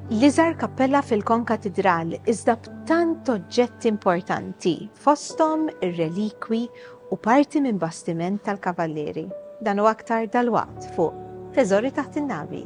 L-iżgħar kappella fil-Konkatidral iżda b'tant oġġetti importanti, fosthom ir-relikwi u parti minn bastiment tal-Kavallieri. Dan u aktar dalwaqt fuq Teżori Taħt in-Navi.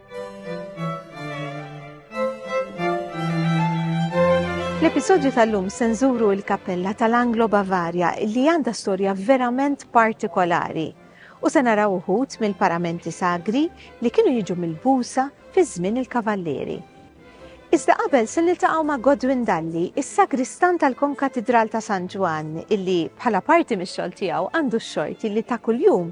L-episodju tal-lum senżuru il-kappella tal-Anglo Bavaria li għandha storja verament partikolari u se naraw uħut mill-paramenti sagri li kienu jiġu mill-busa fi żmien il-kavallieri. Iżda qabel se niltaqgħu ma' Godwin Dalli, is-sagristan tal-Konkatidral ta' San Ġwann, illi bħala parti mix-xogħol tiegħu għandu x-xorti li ta' kuljum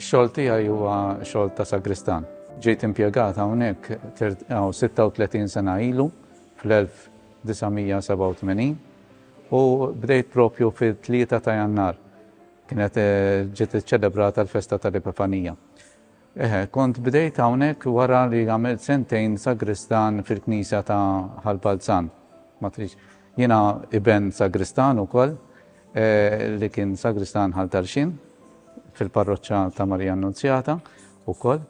Ix-xogħol tiegħi huwa xogħol ta' sagristan. Ġejt impjegat hawnhekk 36 sena ilu fl-1987 u bdejt propju fil-3 ta' Jannar kienet eh, ġiet iċċelebrata l-festa tal-Epifanija. Eħe, kont bdejt hawnhekk wara li għamilt sentejn sagristan fil-knisja ta' Ħal Balzan. Ma tridx. Jiena iben sagristan ukoll li kien sagristan Ħal Tarxien fil-parroċċa ta' Marija Annunzjata ukoll.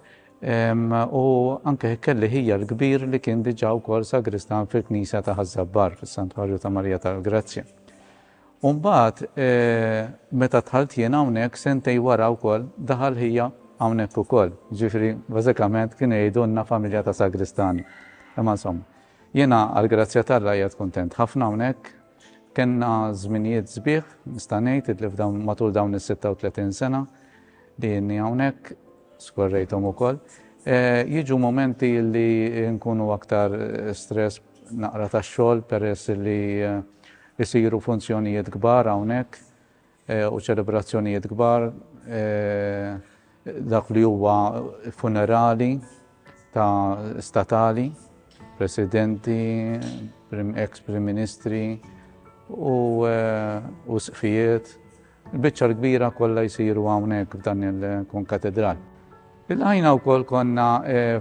U anke kelli ħija l-kbir li kien diġà wkoll sagristan fil-knisja ta' Ħaż-Żabbar fis-Santwarju ta' Marija tal-Grazzja. U mbagħad meta dħalt jien hawnhekk sentejn wara wkoll daħal ħija hawnhekk ukoll. Jiġifieri bażikament kienu jgħidulna familja ta' sagristani. Imma insomma. Jiena għall-grazzja t'Alla qiegħed kuntent ħafna hawnhekk. Kellna żminijiet sbieħ nista' ngħid illi f'dawn matul dawn is-sitta u tletin sena li inni hawnhekk, skorrejthom ukoll. Jiġu mumenti li nkunu aktar stress naqra tax-xogħol peress li Isiru funzjonijiet kbar hawnhekk u ċelebrazzjonijiet kbar, dak li huwa funerali ta' statali, Presidenti, ex-Prim Ministri u sqfijiet. Il-biċċa l-kbira kollha jsiru hawnhekk f'dan il-konkatedral. Ilqajna wkoll konna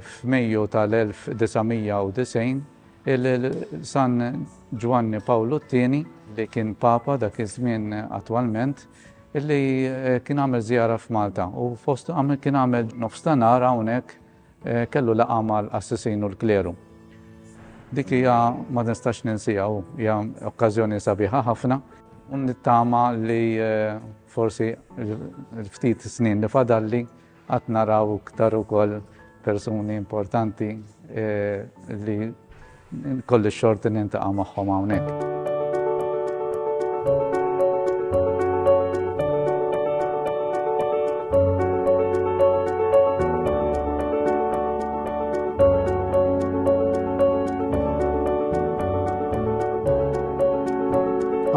f'Mejju tal-1990 il-San Ġwanni Pawlu t-tieni li kien Papa dak iż-żmien attwalment li kien għamel żjara f'Malta u fost kien għamel nofstanar hawnhekk Kellu laqgħa mal-qassisin u l-kleru. Dik hija ma nistax ninsiha u hija okkażjoni sabiħa ħafna u nittama li forsi l-ftit snin li fadalli qatt naraw iktar ukoll persuni importanti li Kolli xorti nintaqa' magħhom hawnhekk.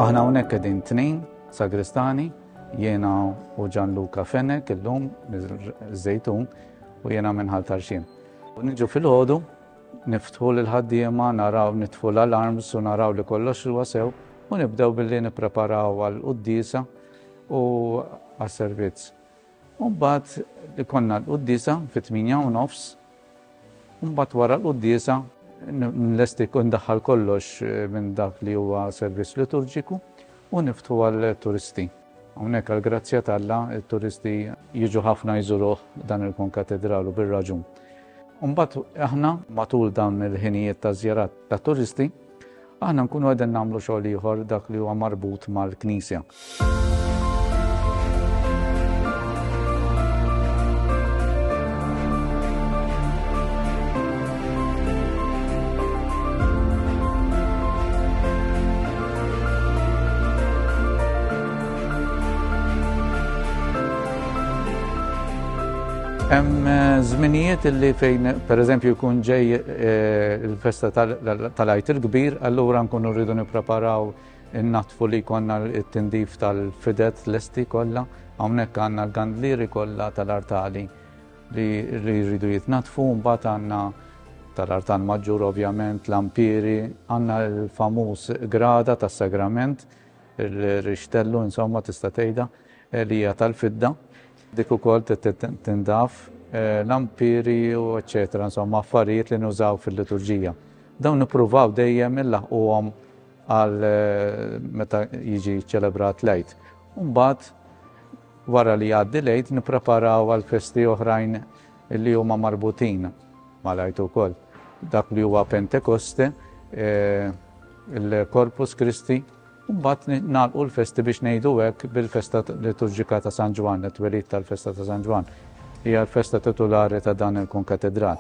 Aħna hawnhekk qegħdin tnejn sagristani, jiena u Gianluca Fenek illum miż-Żejtun u jiena minn Ħal Tarxin. Niġu fil-ħodu Niftħu lill-ħaddiema, naraw nitfu l-alarms u naraw li kollox huwa sew u nibdew billi nippreparaw għall-quddiesa u għas-servizz. U mbagħad ikollna l-quddiesa fit-tmienja u nofs, u mbagħad wara l-quddiesa nlesti u ndaħħal kollox minn dak li huwa servizz liturġiku u niftħu għall-turisti. Hawnhekk għall-grazzja t'Alla t-turisti jiġu ħafna jżuruh dan il-konkatedral u bir-raġun. Imbagħad aħna matul dawn il-ħinijiet ta' żjarat ta' turisti, aħna nkunu qegħdin nagħmlu xogħol ieħor dak li huwa marbut mal-Knisja. Hemm eh, żminijiet illi fejn pereżempju jkun ġej eh, il-festa tal-għajt il-kbir, allura nkunu rridu nippreparaw in-natfu li konna t-tindif tal-fidet l-esti kollha, hawnhekk għandna l-gandlieri kollha tal-artali. li jridu jitnaddfu mbagħad għandna tal-artan maġġur ovvjament l-ampiri, għandna l-famuż grada tas-sagrament, il-rixtellu insomma tista' tgħidha eh, li hija tal-fidda, dik ukoll tindaf eh, l-ampiri u eċetera, insomma affarijiet li nużaw fil-liturġija. Dawn nippruvaw dejjem il-laħquhom għal eh, meta jiġi ċelebrat lejt. Umbat, Wara li jgħaddi l-Għid nippreparaw għal festi oħrajn li huma marbutin mal-Għid ukoll. Dak li huwa Pentekoste, il-Corpus Christi, u mbagħad nagħlqu l-festi biex ngħidu hekk bil-festa liturġika ta' San Ġwann, it-twelid tal-festa ta' San Ġwann. Hija l-festa titulari ta' dan il-Kunkatedral.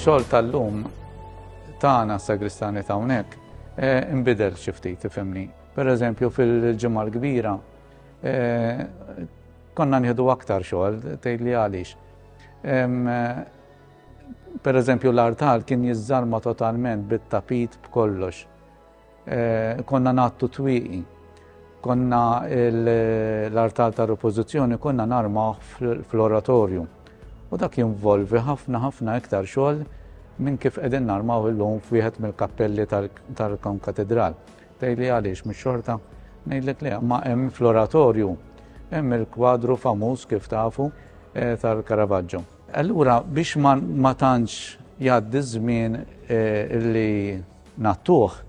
xogħol tal-lum tagħna sagristani ta' hawnhekk eh, imbidel xi ftit ifhimni. Per eżempju fil-ġimgħa l-kbira eh, konna nieħdu aktar xogħol tgħid li għaliex. Per eżempju l-artal kien jiżżarma totalment bit-tapit b'kollox. Eh, konna nattu twiqi. Konna l-artal ta' repożizzjoni konna narma fl-oratorju. U dak jinvolvi ħafna ħafna iktar xogħol minn kif qegħdin narmaw illum f'wieħed mill-kappelli tal-Kon Katedral. Tgħidli għaliex mhux xorta? Ngħidlek le, ma hemm fl-oratorju, hemm il-kwadru famuż kif tafu eh, tal-Caravaggio. Allura biex ma tantx jgħaddi żmien eh, li nattuh,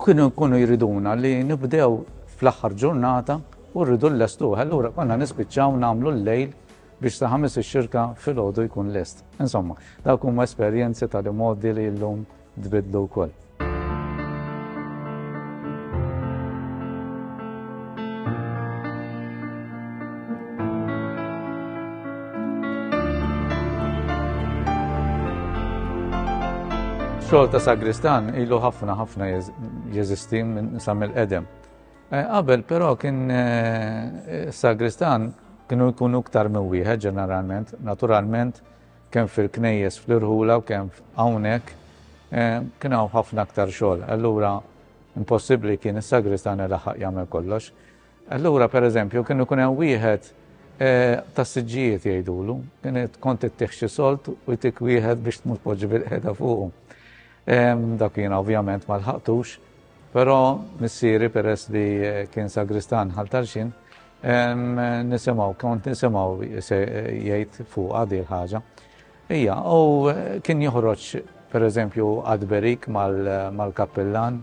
kienu jkunu jriduna li nibdew fl-aħħar ġurnata u rridu l-lestuħ. Allura konna nispiċċaw nagħmlu l-lejl biex ta' ħames ix-xirka fil-ħodu jkun lest. Insomma, dawk huma esperjenzi tal-imodi li llum tbiddlu wkoll. xogħol ta' sagristan ilu ħafna ħafna jeżisti minn sam il-qedem. Eh, qabel però kien eh, sagristan kienu jkunu iktar minn wieħed ġeneralment, naturalment kemm fil-knejjes fl-irħula u kemm hawnhekk, kien hawn ħafna aktar xogħol. Allura impossibbli kien is-sagristan ilaħħaq jagħmel kollox. Allura pereżempju kien ikun hemm wieħed tas-siġġijiet jgħidulu, kien kont ittih xi solt u jtik wieħed biex tmur tpoġġi bil-qiegħda fuqu. Dak kien ovvjament ma lħaqtux, però missieri peress li kien sagristan ħal tarxin, Nisimgħu, kont nisimgħu jgħid fuqha di l-ħaġa. Ija, u kien joħroġ per eżempju għadberik mal-kappillan,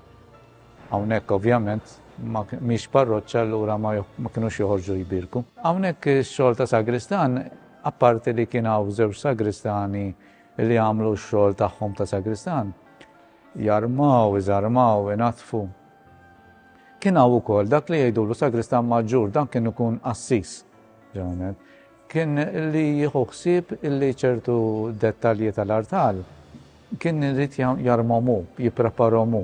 għawnek ovvjament, miex parroċċa l-ura ma kienux joħorġu jibirku. Għawnek xol ta' sagristan, apparti li kien għaw zewġ sagristani li għamlu xol taħħom ta' sagristan, Jarmaw, iżarmaw, inaddfu. Kien hawn ukoll dak li jgħidulu sagristan maġġur, dan kien ikun qassis, ġeneralment. Kien li jieħu ħsieb illi ċertu dettalji tal-artal kien irid jarmhom hu, jippreparhom hu.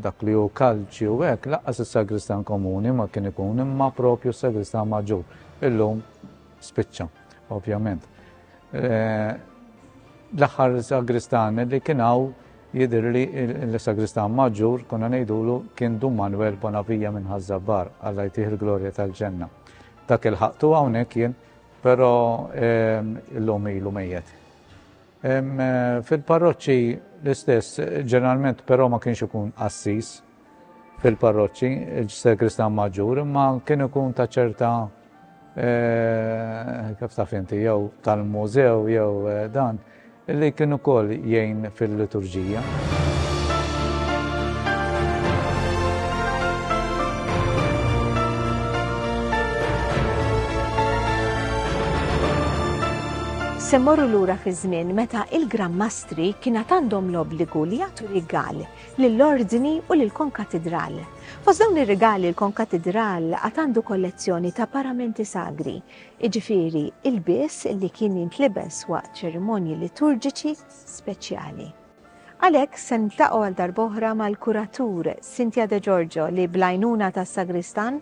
Dak li hu kalċi u hekk lanqas is-sagristan komuni ma kien ikun imma proprju s-sagristan maġġur. Illum spiċċa. Ovvjament. Eh, l-aħħar sagristan li kien hawn jidir li l-sagristan maġġur kuna ngħidulu kien Dum Manuel Bonavija minn Ħażabbar għalla jtih il-glorja tal-ġenna. Dak il-ħaqtu hawnhekk jien, però ehm, illum ilu mejjet. Ehm, fil-parroċċi l-istess, ġeneralment però ma kienx ikun assis, fil-parroċċi, il-sagristan maġġur, imma kien ikun ta' ċerta eh, kif taf inti, jew tal-mużew, jew eh, dan, li kien ukoll jgħin fil-liturġija. Se morru lura fi żmien meta il-Gran Mastri kienet għandhom l-obbligu li jagħtu rigal lill-Ordni u lill-Konkatidral. Fost dawn ir-rigali l-Konkatidral għad għandu kollezzjoni ta' paramenti sagri, jiġifieri ilbies li kien jintlibes waqt ċerimonji liturġiċi speċjali. Għalhekk se niltaqgħu għal darb'oħra mal-kuratur Cynthia De Giorgio li bl-għajnuna tas-sagristan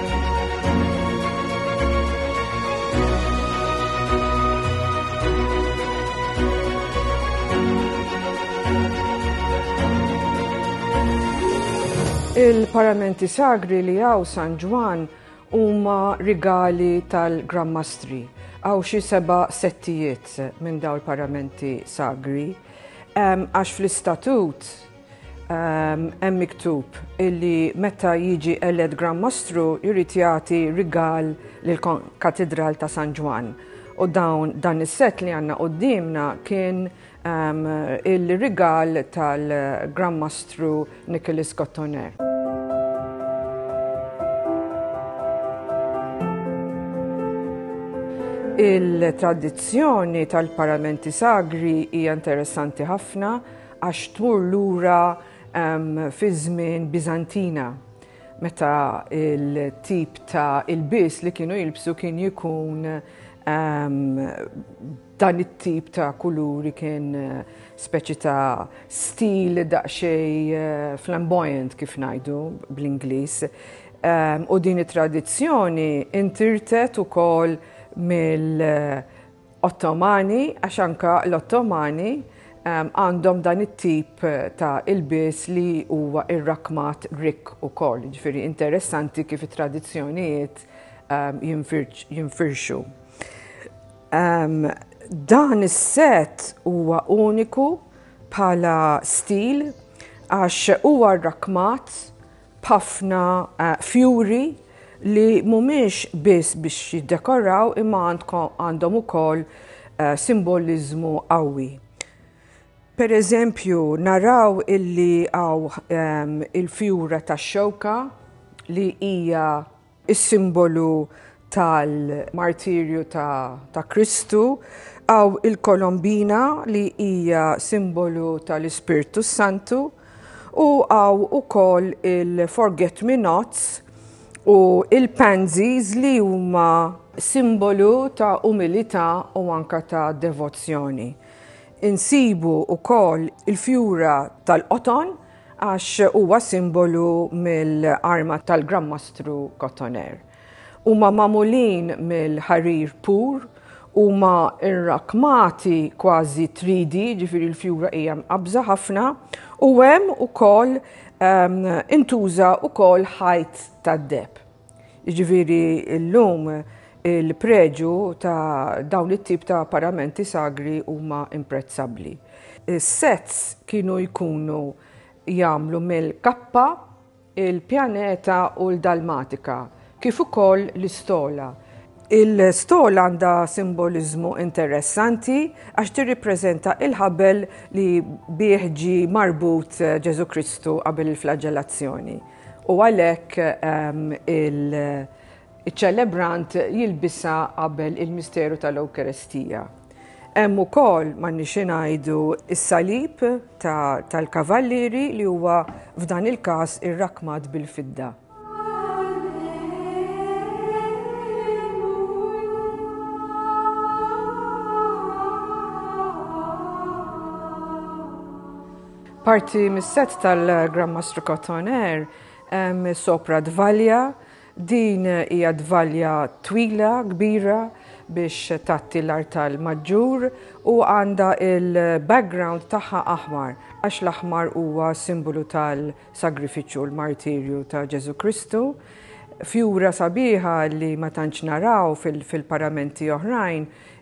Il-paramenti sagri li għaw San Ġwan huma rigali tal-grammastri. Għaw xi seba settijiet minn daw il-paramenti sagri. Għax fl-istatut Hemm miktub illi meta jiġi elett Gran Mastru jrid jagħti rigal lill-Katidral ta' San Ġwann. U dawn dan is-set li għandna quddiemna kien um, il-rigal tal-Gran Mastru Nicholas Cottoner. Il-tradizzjoni tal-paramenti sagri hija interessanti ħafna Għax tmur lura fiż-żmien Biżantina meta il-tip ta' ilbies li kienu jilbsu kien jikun dan it-tip ta' kuluri kien speċi ta' stil daqsxejn flamboyant kif ngħidu bl-Ingliż. U din it-tradizzjoni intirtet ukoll mill- Ottomani, għax anke l-Ottomani għandhom dan it-tip ta' ilbies li huwa rrakkmat Grieg ukoll, jiġifieri interessanti kif it-tradizzjonijiet jinfirxu. Dan is-set huwa uniku bħala stil għax huwa rrakkmat b'ħafna fjuri li mhumiex biss biex jiddekoraw imma għandhom ukoll simboliżmu qawwi. Pereżempju, naraw illi hawn il-fjura tax-xewka li hija is-simbolu tal-martirju ta' Kristu, hawn il-kolombina li hija simbolu tal-Ispirtu s-Santu, u hawn ukoll il-forget me nots u l-pansies li huma, simbolu ta' umilità u anke ta' devozzjoni, insibu wkoll il-fjura tal-qoton, għax huwa simbolu mill-arma tal-Gran Mastru Cotoner. Huma magħmulin mill-ħarir pur, huma rrakmati kważi 3D, ġifieri l-fjura hija mqabża ħafna, u hemm ukoll ehm, intuża ukoll ħajt tad-deb. Jiġifieri llum il-preġu ta' dawn it-tip ta' paramenti sagri huma imprezzabbli. Is-sets kienu jkunu jagħmlu mill-kappa, il-pjaneta u l-dalmatika, kif ukoll l-istola. Il-stola għandha simboliżmu interessanti għax tirripreżenta l-ħabel li bih ġie marbut Ġesù Kristu qabel il-flaġġellazzjoni. U għalhekk il-ċelebrant jilbisa qabel il-misteru tal-Ewkaristija. Hemm ukoll ma nixi ngħidu is-salib tal-kavallieri li huwa f'dan il-każ irrakmat bil-fidda. Parti mis-sett tal-Gran Mastru Cotoner hemm sopra dvalja. Din hija dvalja twila, kbira biex tgħatti l-artal maġġur u għandha l-background tagħha aħmar għax l-aħmar huwa simbolu tal-sagrifiċċju u l-martirju ta' Ġesù Kristu. Fjura sabiħa li ma tantx naraw fil-paramenti oħrajn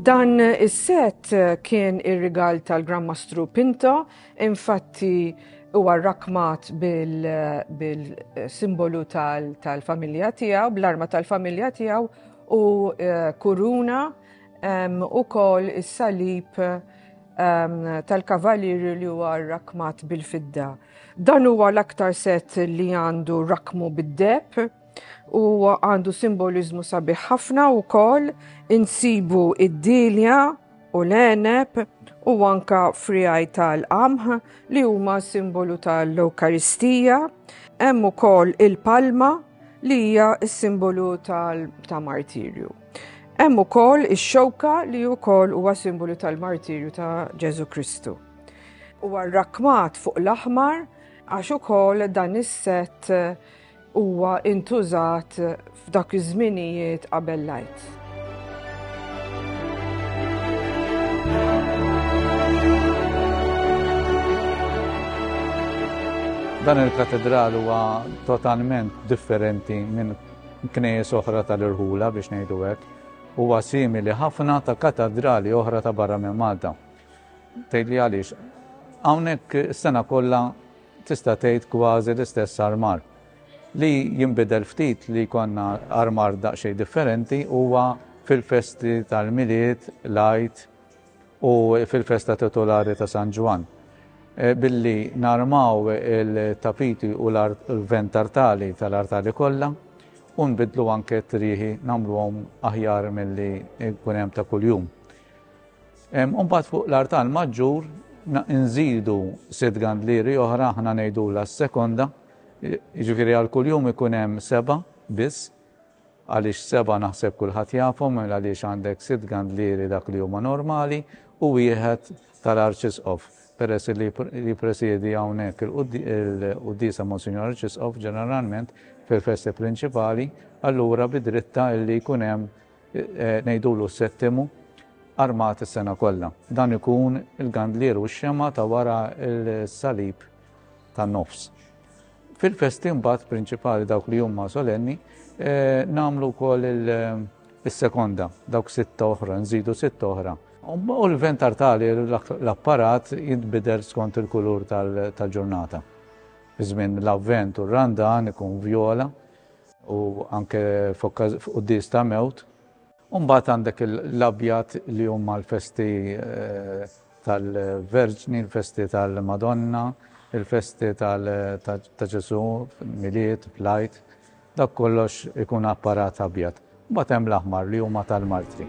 Dan is-set kien ir-rigal tal-Gran Mastru Pinto, infatti huwa rrakmat bil-simbolu tal-familja tiegħu, bl-arma tal-familja tiegħu u eh, kuruna u kol is-salib tal-kavalir li huwa rakmat bil-fidda. Dan huwa l-aktar set li għandu rakmu bid-deb u għandu simboliżmu sabiħ ħafna wkoll insibu id-dilja u l-għeneb u anka frijaj tal-qamħ li huma simbolu tal-Ewkaristija. Hemm ukoll il-palma li hija s-simbolu ta' martirju. Hemm ukoll ix-xewka li wkoll huwa simbolu tal-martirju ta' Ġesu Kristu. Huwa rrakmat fuq l-aħmar għax ukoll dan is-set Huwa intużat f'dak iż-żminijiet qabel l-għid. Dan il-katedral huwa totalment differenti minn knejjes oħra tal-irħula biex ngħidu hekk. Huwa simili ħafna ta' katedrali oħra ta' barra minn Malta. Tgħidli għaliex hawnhekk sena kollha tista' tgħid kważi l-istess armar. Li jinbidel ftit li jkollna armar daqsxejn differenti huwa fil-festi tal-Milied, l-Għid u fil-festa titulari ta' San Ġwann. Billi narmaw il-tapiti u l-vent artali tal-artali kollha u nbiddlu anke t-trieħi nagħmluhom aħjar milli jkun hemm ta' kuljum. U mbagħad fuq l-artal maġġur nżidu sitt gandlieri oħra aħna ngħidulha s-sekonda, jiġifieri għal kuljum ikun hemm seba' biss, għaliex seba' naħseb kulħadd jafhom mela għaliex għandek sitt gandlieri dak li huma normali u wieħed tal-Arċisqof, peress li jippresjedi hawnhekk il-quddiesa Monsinjur Arċisqof ġeneralment fil-festi prinċipali, allura bi drittha li jkun hemm ngħidulu s-settimu, armat is-sena kollha. Dan ikun il-gandlier u x-xemgħa ta' wara l-salib tan-nofs. Fil-festi mbagħad prinċipali dawk li huma solenni eh, nagħmlu wkoll is-sekonda, dawk sitta oħra, nżidu sitta oħra. U l-ventar tali l-apparat jitbidel skont il-kulur tal-ġurnata. Iżmin l-avvent u r-randan ikun vjola, u anke f'quddies ta' mewt, u mbagħad għandek l-abjad li huma l-festi tal-Verġni, l-festi tal-Madonna, il-festi ta' Ġesù, Milied, l-Għid, dak kollox ikun apparat abjad. Mbagħad hemm l-aħmar li huma tal-martri.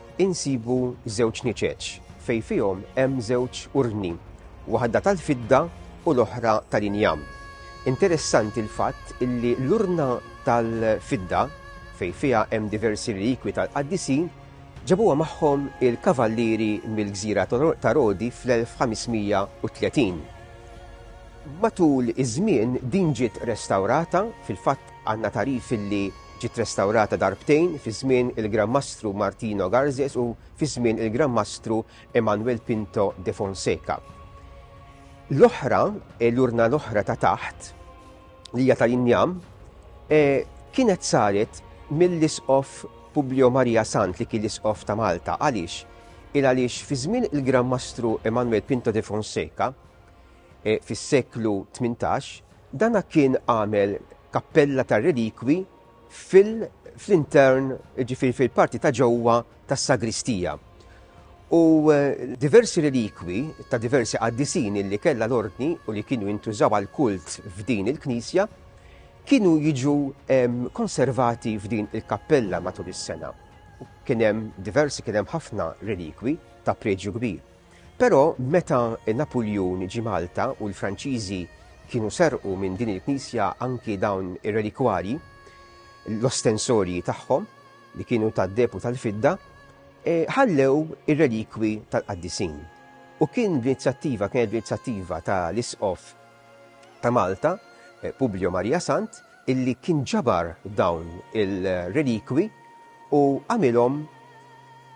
insibu żewġ niċeċ fejn fihom hemm żewġ urni, waħda tal-fidda u l-oħra tal-injam. Interessanti l-fatt illi l-urna tal-fidda, fejn fiha hemm diversi relikwi tal-qaddisin, ġabuha magħhom il-kavallieri mill-gżira ta' Rodi fl-1530. Matul iż-żmien din ġiet restawrata, fil-fatt Għandna tagħrif illi ġiet restawrata darbtejn fi żmien il-Gran Mastru Martino Garzes u fi żmien il-Gran Mastru Emanuel Pinto de Fonseca. L-oħra, l-urna l-oħra ta' taħt, li hija tal-injam, kienet saret mill-Isqof Publio Maria Sant li kien l-Isqof ta' Malta. Għaliex? Il għaliex fi żmien il-Gran Mastru Emanuel Pinto de Fonseca, fis-seklu 18, Dan kien għamel kappella tar-relikwi fil-intern, jiġifieri fil-parti ta' ġewwa tas-sagristija. U diversi relikwi ta' diversi qaddisin li kellha l-ordni u li kienu jintużaw għal kult f'din il-knisja kienu jiġu konservati f'din il-kappella matul is-sena. Kien hemm diversi, kien hemm ħafna relikwi ta' preġju kbir. Però meta Napuljun ġie Malta u l-Franċiżi kienu serqu minn din il-knisja anki dawn ir-relikwarji, l-ostensorji tagħhom li kienu tad-deheb u tal-fidda, e, ħallew ir-relikwi tal-qaddisin. U kien b'inizjattiva, kienet b'inizjattiva ta' l-isqof ta' Malta, e, Publio Maria Sant, illi kien ġabar dawn il-relikwi u għamilhom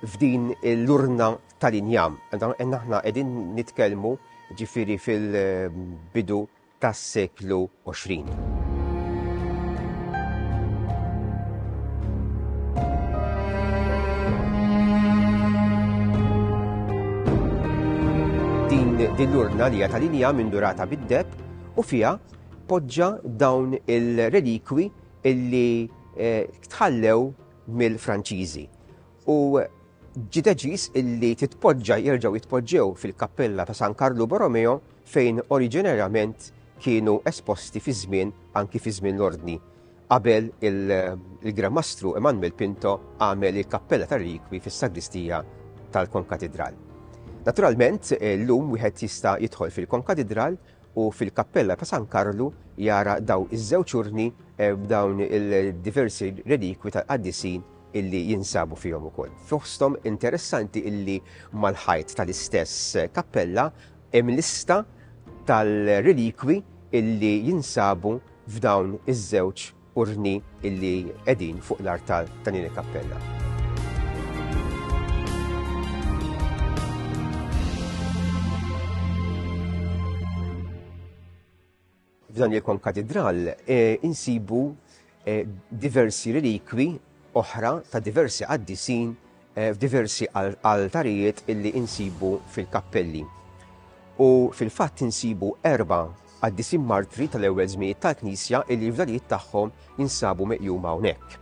f'din l-urna tal-injam. Għandna aħna qegħdin nitkellmu ġifieri fil-bidu tas-seklu 20. din l-urna li tal-inja mindurata bid-deb u fija poġġa dawn il-relikwi illi eh, tħallew mill-Franċiżi. u ġie deċiż illi titpoġġa jerġgħu jitpoġġew fil-kappella ta' San Karlu Borromeo fejn oriġinarjament kienu esposti fi żmien anki fi żmien l-Ordni qabel il-Gran Mastru Emanuel Pinto għamel il-kappella tar-rikwi fis-sagristija tal-Konkatidral. Naturalment, llum wieħed jista' jidħol fil-Konkatidral u fil-kappella ta' San Karlu jara daw iż-żewġ urni b'dawn il-diversi relikwi tal-qaddisin illi jinsabu fihom ukoll. Fosthom interessanti illi mal-ħajt tal-istess kappella hemm lista tal-relikwi illi jinsabu f'dawn iż-żewġ Urni illi qegħdin fuq l-artal ta' Nini Cappella. f'dan il-konkatedral eh, insibu eh, diversi relikwi oħra ta' diversi qaddisin f'diversi altarijiet illi insibu fil-kappelli. U fil-fatt insibu erba' qaddisin martri tal-ewwel żminijiet tal-Knisja illi l-fdalijiet tagħhom jinsabu meqjuma hawnhekk.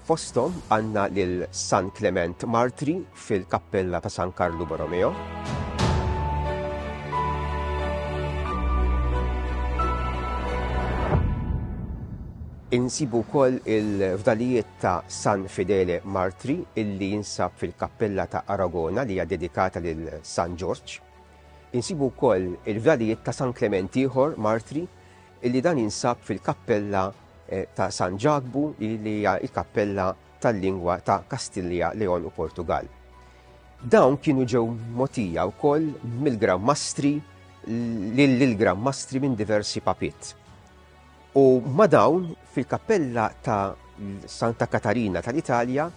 Fosthom għandna lil San Klement Martri fil-Kappella ta' San Karlu Borromeo. Insibu wkoll il-fdalijiet ta' San Fidele Martri illi jinsab fil-Kappella ta' Aragona li hija dedikata lil San Ġorġ. Insibu wkoll il-fdalijiet ta' San Klement ieħor Martri illi dan jinsab fil-Kappella eh, ta' San Ġakbu li hija il-Kappella tal-lingwa ta' Kastilja, Leon u Portugall. Dawn kienu ġew mogħtija wkoll mill-Gran Mastri lill-Gran Mastri minn diversi papiet. U ma' dawn fil-kappella ta' Santa Katarina tal-Italja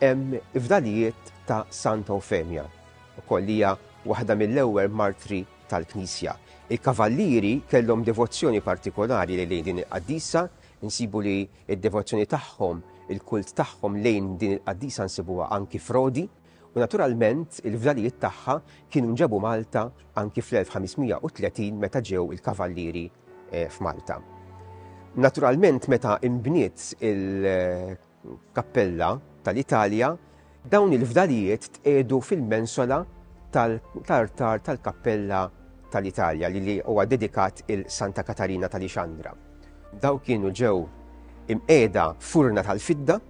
hemm ifdalijiet ta' Santa Eufemia, ukoll hija waħda mill-ewwel martri tal-Knisja. Il-kavallieri kellhom devozzjoni partikolari lejn din il-qaddisa, insibu li Id-devozzjoni tagħhom, il-kult tagħhom lejn din il-qaddisa nsibuha anki f'Rodi, u naturalment il-fdalijiet tagħha kienu nġabu Malta anki fl-1530 meta ġew il-Kavallieri f'Malta. Naturalment meta inbniet il-Kappella tal-Italja, Dawn il-fdalijiet tqiegħdu fil-mensola tal-artar tal-kappella tal-Italja li li huwa dedikat 'il Santa Katarina ta' Lixandra. Dawn kienu ġew imqiegħda f'urna tal-fidda.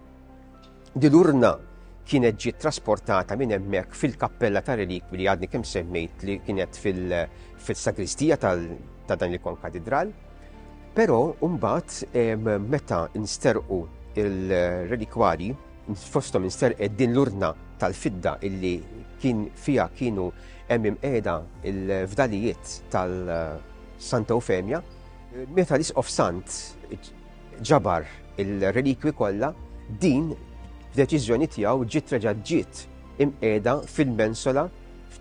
Din l-urna kienet ġiet trasportata minn hemmhekk fil-kappella ta' relikwi li għadni kemm semmejt li kienet fil-sagristija ta' dan il-konkatidral. Però mbagħad meta nsterqu il-relikwari Fosthom insterqet din l-urna tal-fidda illi kien fiha kienu hemm imqiegħda l-fdalijiet tal-Santa Eufemja. Meta l-Isqof Sant ġabar il-relikwi kollha, din b'deċiżjoni tiegħu ġiet reġa' ġiet imqiegħda fil-mensola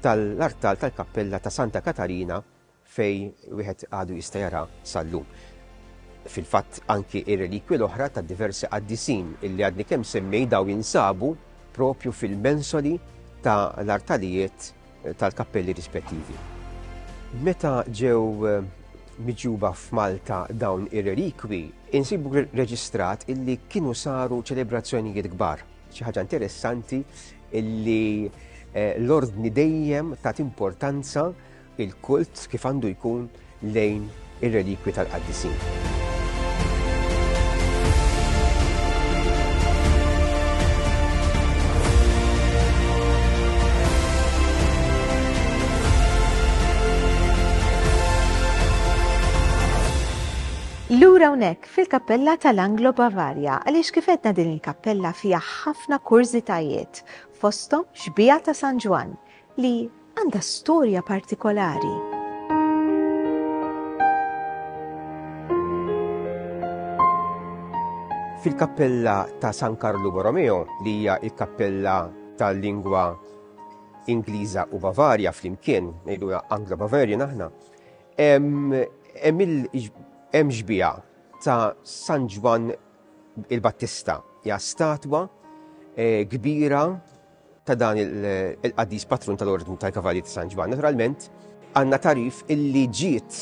tal-artal tal-kappella ta' Santa Katarina fejn wieħed għadu jista' jara sal-lum. Fil-fatt anki ir-relikwi l-oħra ta' diversi qaddisin illi għadni kemm semmej daw jinsabu propju fil-mensoli ta' l-artalijiet eh, tal-kappelli rispettivi. Meta ġew eh, miġuba f'Malta dawn ir-relikwi, insibu reġistrat illi kienu saru ċelebrazzjonijiet kbar. Xi ħaġa interessanti illi eh, l-ordni dejjem tat importanza il-kult kif għandu jkun lejn ir-relikwi tal-qaddisin. Lura hawnhekk fil-kappella tal-Anglo Bavarja għaliex kif edna din il-kappella fiha ħafna kurżitajiet fosthom xbija ta' San Ġwan li għandha storja partikolari. Fil-kappella ta' San Karlu Borromeo, li hija il-kappella tal-lingwa Ingliża u Bavarja flimkien, ngħidu Anglo-Bavarian aħna, hemm xbija ta' San Ġwan il-Battista, hija statwa eh, kbira ta' dan il-qaddis patrun tal-Ordni tal-Kavalli ta' San Ġwann, naturalment, għandna tarif illi ġiet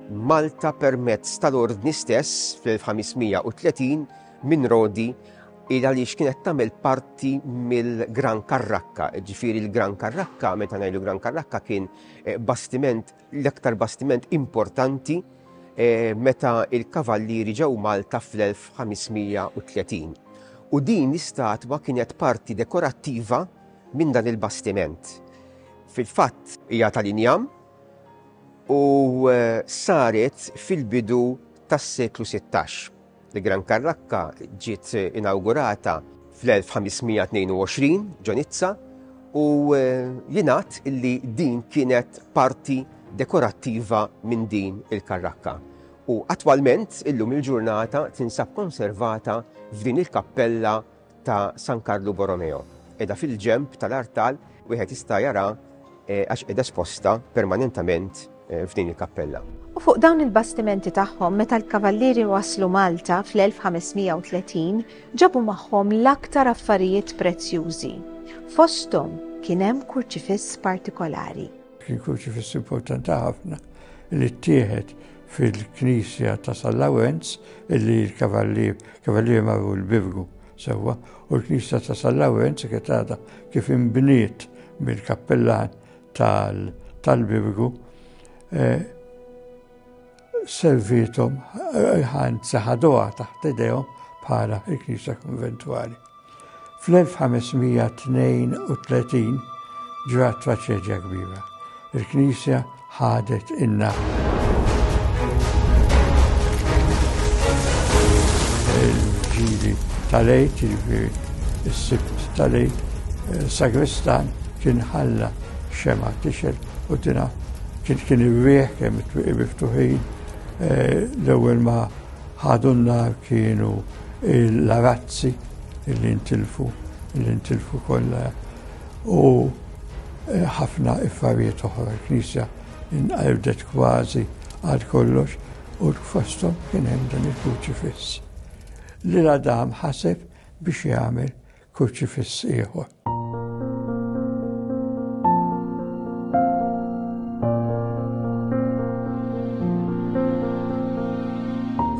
Malta permezz tal-Ordni stess fl-1530 minn Rodi il għaliex kienet tagħmel parti mill-Gran Karrakka. Ġifieri l-Gran Karrakka, meta ngħidu Gran Karrakka kien eh, bastiment l-aktar bastiment importanti meta l-Kavallieri ġew Malta fl-1530, u din l-istatwa kienet parti dekorattiva minn dan il-bastiment. Fil-fatt, hija tal-injam u saret fil-bidu tas-seklu sittax. Il-Gran Karrakka ġiet inawgurata fl-1522 ġo Nizza u eh, jingħad illi din kienet parti dekorattiva minn din il-karrakka. U attwalment illum il-ġurnata tinsab konservata f'din il-kappella ta' San Karlu Borromeo. Qiegħda fil-ġenb tal-artal wieħed jista' jara eh, għax qiegħda esposta permanentament eh, f'din il-kappella. U fuq dawn il-bastimenti tagħhom meta l-kavallieri waslu Malta fl-1530 ġabu magħhom l-aktar affarijiet prezzjużi. Fosthom kien hemm kurċifiss partikolari. Kien kurċifiss importanti ħafna li ttieħed fil-knisja ta' San Lawenz, illi l-kavallier, kavallier marru l-birgu sewwa, u l-knisja ta' San Lawenz kienet għadha kif imbniet mill-kappellan tal-birgu eh, servitom eh, ħanzi ħaduha taħt idejhom bħala il-knisja konventwali. Fl-1532 ġrat traċedja kbira. Il-Knisja ħadet inna il-ġili tal-ejt, ġifiri s-sibt tal-ejt, eh, sagristan kien ħalla xema tixel u tina kien kien iwieħ kemm it-twiqi miftuħin eh, l-ewwel ma' Ħadu n-nar kienu l-arazzi li ntilfu, li ntilfu kollha u eh, ħafna iffarijiet oħra. Il-Knisja inqerdet kważi għal kollox u fostom kien hemm dan il-kruċifiss. Li l-Adam ħaseb biex jagħmel kurċifiss ieħor.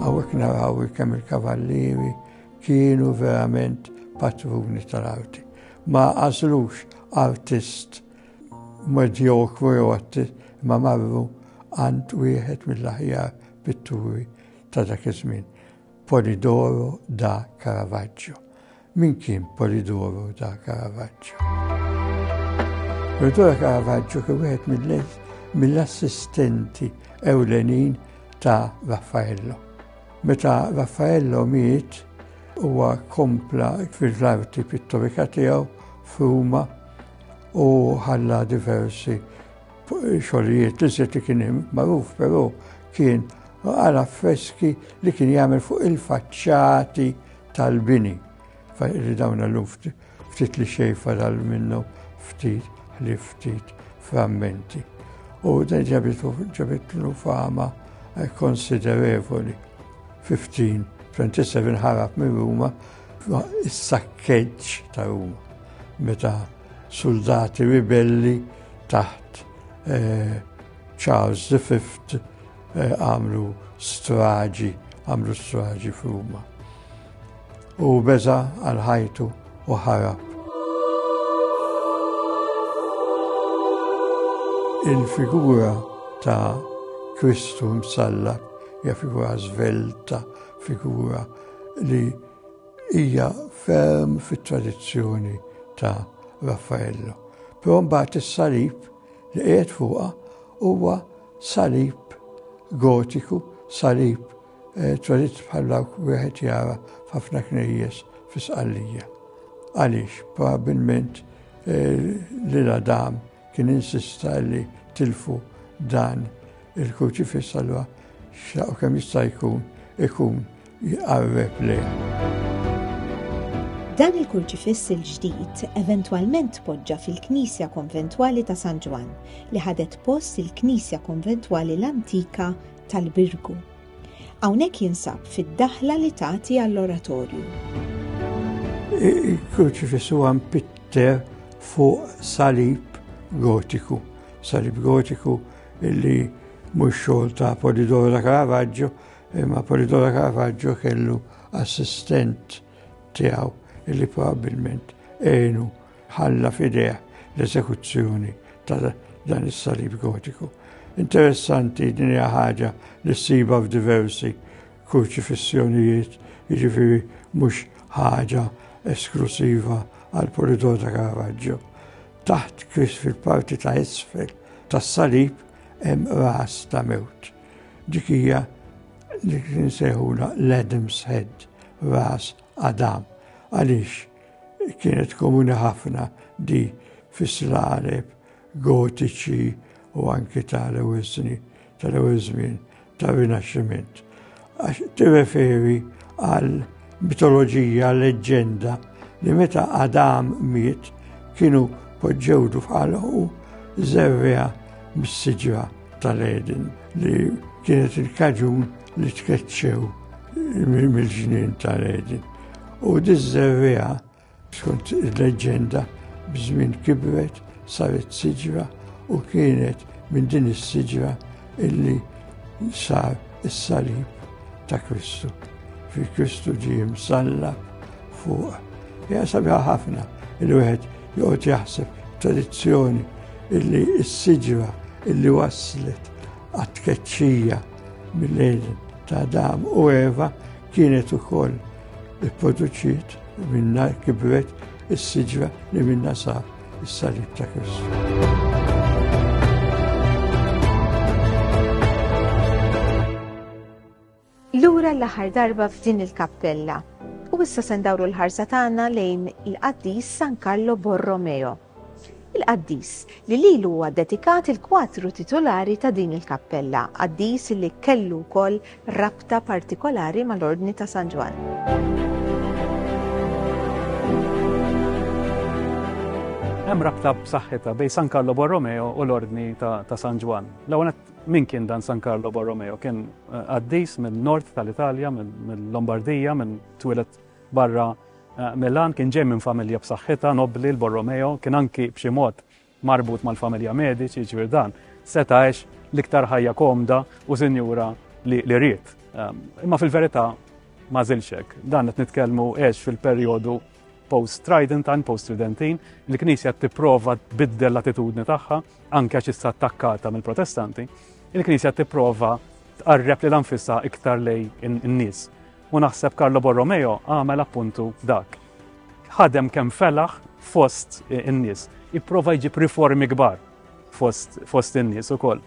Hawnhekk naraw kemm il-kavallieri kienu verament patruni tal-arti. Ma għażlux artist medjokru jew artist ma marru għand wieħed mill-aħjar pitturi ta' dak iż-żmien. Polidoro da Caravaggio. Min kien Polidoro da Caravaggio? Polidoro da Caravaggio kien wieħed mill-lejs mill-assistenti ewlenin ta' Raffaello. Meta Raffaello miet, huwa kompla fil-arti pittorika tiegħu f'Ruma u ħalla diversi Xogħlijiet li żied li kien magħruf però kien għal affreski li kien jagħmel fuq il-faċċati tal-bini. Li dawn l ftit li xej fadal minnu ftit li ftit frammenti. U dan ġabitlu fama eh, konsiderevoli. 15, 27 ħarab minn Ruma, is-sakkeġġ ta' Ruma. Meta Suldati ribelli taħt eh, Charles V eh, għamlu straġi, għamlu straġi f'Ruma. U beza għal ħajtu u ħarab. Il-figura ta' Kristu msallab hija figura żvelta, figura li Hija ferm fit-tradizzjoni ta' Raffaello, però mbagħad is-salib li qiegħed fuqha huwa salib gotiku, salib eh, tradizz bħal dawk wieħed jara f'ħafna knejjes fi Sqallija. Għaliex, probabilment eh, li l-Adam kien insista li tilfu dan il-kruċifiss allura xaqo kemm jista' jkun ikun jqarreb lejn. Dan il-kurċifiss il-ġdid eventwalment tpoġġa fil-Knisja Konventwali ta' San Ġwann li ħadet post il-Knisja Konventwali l-antika tal-Birgu. Hawnhekk jinsab fid-daħla li tagħti għall-oratorju. Il-kurċifiss huwa mpitter fuq salib gotiku. Salib gotiku li mhux xogħol ta' Polidoro da Caravaggio Imma Polidoro Caravaggio kellu assistent tiegħu li probabbilment għenu ħalla f'idejh l-eżekuzzjoni ta' dan is-salib gotiku. Interessanti din hija ħaġa li ssiba f'diversi kurċifissjonijiet, jiġifieri mhux ħaġa esklusiva għal Polidor ta' Caravaggio. Taħt kris fil-parti ta' isfel tas-salib hemm ras ta' mewt. Dik hija li kien sejħula l-Adam's Head, ras Adam, għaliex kienet komuni ħafna di fis-slaleb gotiċi u anki tal-ewwel snin tal-ewwel żmien tar-Rinaxximent. Għax tirreferi għal Mitoloġija, leġġenda li meta Adam miet kienu poġġewdu f'ħalqu żerrea mis-siġra tal-Eden li kienet il-kaġun li tkeċċew mill-ġnien tal-Eden. U diż-żerrea Skont il-leġġenda, b'żmien kibret saret siġra u kienet minn din is-siġra illi sar is-salib ta' Kristu. Fi Kristu ġie msalla fuq. Ja sabiħa ħafna il-wieħed joqgħod jaħseb tradizzjoni illi s-siġra illi waslet għat-tkeċċija mill-lejl ta' Adam u Eva Kienet ukoll ipproduċiet minna kibret is-siġra li minna sa is-salib ta' Kristu. Lura l-aħħar darba f'din il-kappella u issa se ndawru l-ħarsa tagħna lejn il-qaddis San Carlo Borromeo. il-qaddis li lilu huwa ddedikat il-kwatru titulari ta' din il-kappella, qaddis li kellu wkoll rabta partikolari mal-Ordni ta' San Ġwann. Hemm rabta b'saħħitha bejn San Carlo Borromeo u l-Ordni ta' San Ġwann. L-ewwel min kien dan San Carlo Borromeo? Kien eh, qaddis minn nord tal-Italja, mill-Lombardija, minn twilet Barra Milan kien ġej minn familja b'saħħitha, nobbli, l-Borromeo, kien anki b'xi mod marbut mal-familja Medici, jiġifieri dan seta' għex l-iktar ħajja komda u sinjura li ried. Ehm, imma fil-verità ma żilx hekk. Dan qed nitkellmu għex fil-perjodu post-Tridentine, post-Tridentin, il-Knisja tipprova tbiddel l-attitudni tagħha, anke għax issa attakkata mill-Protestanti, il-Knisja tipprova tqarreb li l-anfissa iktar lej in-nies. u naħseb Carlo Borromeo għamel appuntu dak. Ħadem kemm felaħ fost in-nies, ipprova jġib riformi kbar fost, fost in-nies ukoll.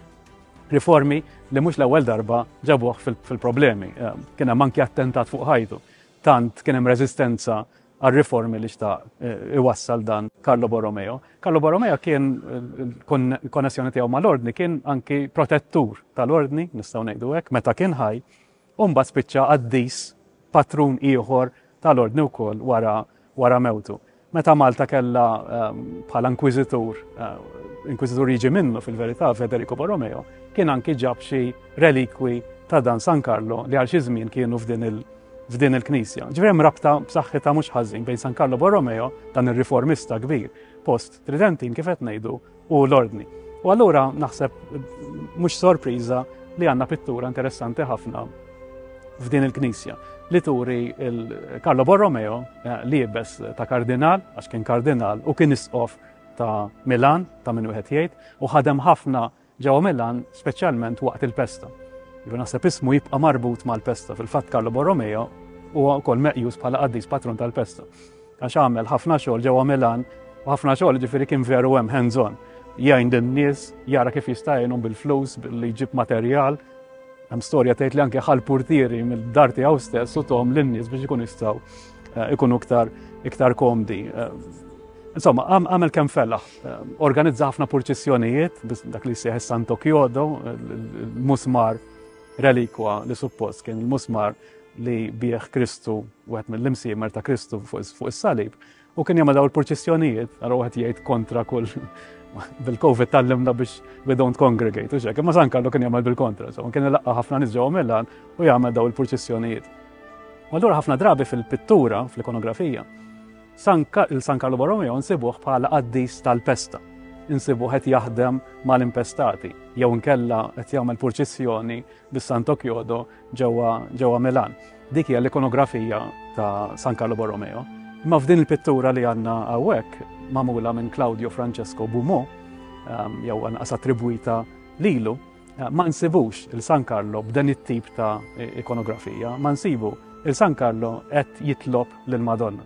Riformi li mhux l-ewwel darba ġabuh fil-problemi. Fil eh, kien hemm anki attentat fuq ħajtu. Tant kien hemm reżistenza għal-riformi li xta' eh, iwassal dan Carlo Borromeo. Carlo Borromeo kien eh, konnessjoni tiegħu mal-ordni kien anki protettur tal-ordni, nistgħu ngħidu hekk, meta kien ħaj U mbagħad spiċċa qaddis, patrun ieħor tal-Ordni wkoll wara wara mewtu. Meta Malta kellha ehm, bħala inkwiżitur, ehm, inkwiżitur jiġi minnu fil-verità Federico Borromeo, kien anki ġab xi relikwi ta' dan San Carlo li għal xi żmien kienu f'din il- f'din il-Knisja. Ġifieri hemm rabta b'saħħitha mhux ħażin bejn San Carlo Borromeo, dan ir-riformista kbir, post Tridentin kif qed ngħidu u l-ordni. U allura naħseb mhux sorpriża li għandna pittura interessanti ħafna f'din il-Knisja li turi il-Carlo Borromeo eh, li jibes ta' kardinal, għax kien kardinal u kien isqof ta' Milan, ta' minn wieħed jgħid, u ħadem ħafna ġewwa Milan, speċjalment waqt il-pesta. Jiġu naħseb ismu jibqa' marbut mal-pesta, fil-fatt Carlo Borromeo huwa wkoll meqjus bħala qaddis patron tal-pesta. Għax għamel ħafna xogħol ġewwa Milan u ħafna xogħol ġifieri kien veru hemm hands on. Jgħin lin-nies, jara kif jista' jgħinhom bil-flus, billi jġib materjal. Hemm storja tgħid li anke ħal purtieri mill-dar tiegħu stess u tom lin-nies biex ikun jistgħu eh, ikunu iktar iktar komdi. Eh, insomma, għamel kemm fellaħ, eh, organizza ħafna purċissjonijiet, dak li seħ Santo Kjodo, il-musmar relikwa li suppost kien il-musmar li bih Kristu, wieħed mill-imsiemer ta' Kristu fuq is-salib, u kien jagħmel daw il-purċissjonijiet, għara wieħed jgħid kontra kull bil-Covid tal-limna biex we don't congregate, u xek, imma San Karlu kien jagħmel bil-kontra, so kien laqqa ħafna nies ġewwa Milan u jagħmel daw il-purċissjonijiet. U allura ħafna drabi fil-pittura, fl-ikonografija, il-San Karlu Borromeo nsibuh bħala qaddis tal-pesta, insibuh qed jaħdem mal-impestati, jew nkella qed jagħmel purċissjoni bis-Santo Kjodo ġewwa ġewwa Milan. Dik hija l-ikonografija ta' San Carlo Borromeo. Imma f'din il-pittura li għandna hawnhekk magħmula minn Claudio Francesco Bumo, ehm, jew anqas attribwita lilu, eh, ma nsibux il-San Carlo b'dan it-tip ta' ikonografija, ma nsibu il-San Carlo qed jitlob lill-Madonna.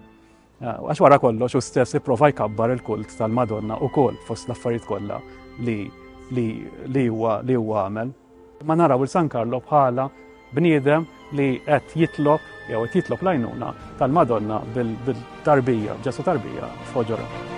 Għax wara kollox u stess ipprova jkabbar il-kult tal-Madonna u kol fost l-affarijiet kollha li li huwa li huwa għamel. Ma naraw il-San Karlo bħala bniedem li qed jitlob jew qed jitlob lajnuna tal-Madonna bil-tarbija, ġesu tarbija f'ħoġora.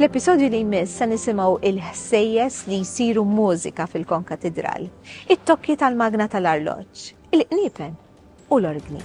Fl-episodju li jmiss se nisimgħu il-ħsejjes li jsiru mużika fil-konkatidral, it-tokki tal-magna tal-arloġġ, il-qniepen u l-orgni.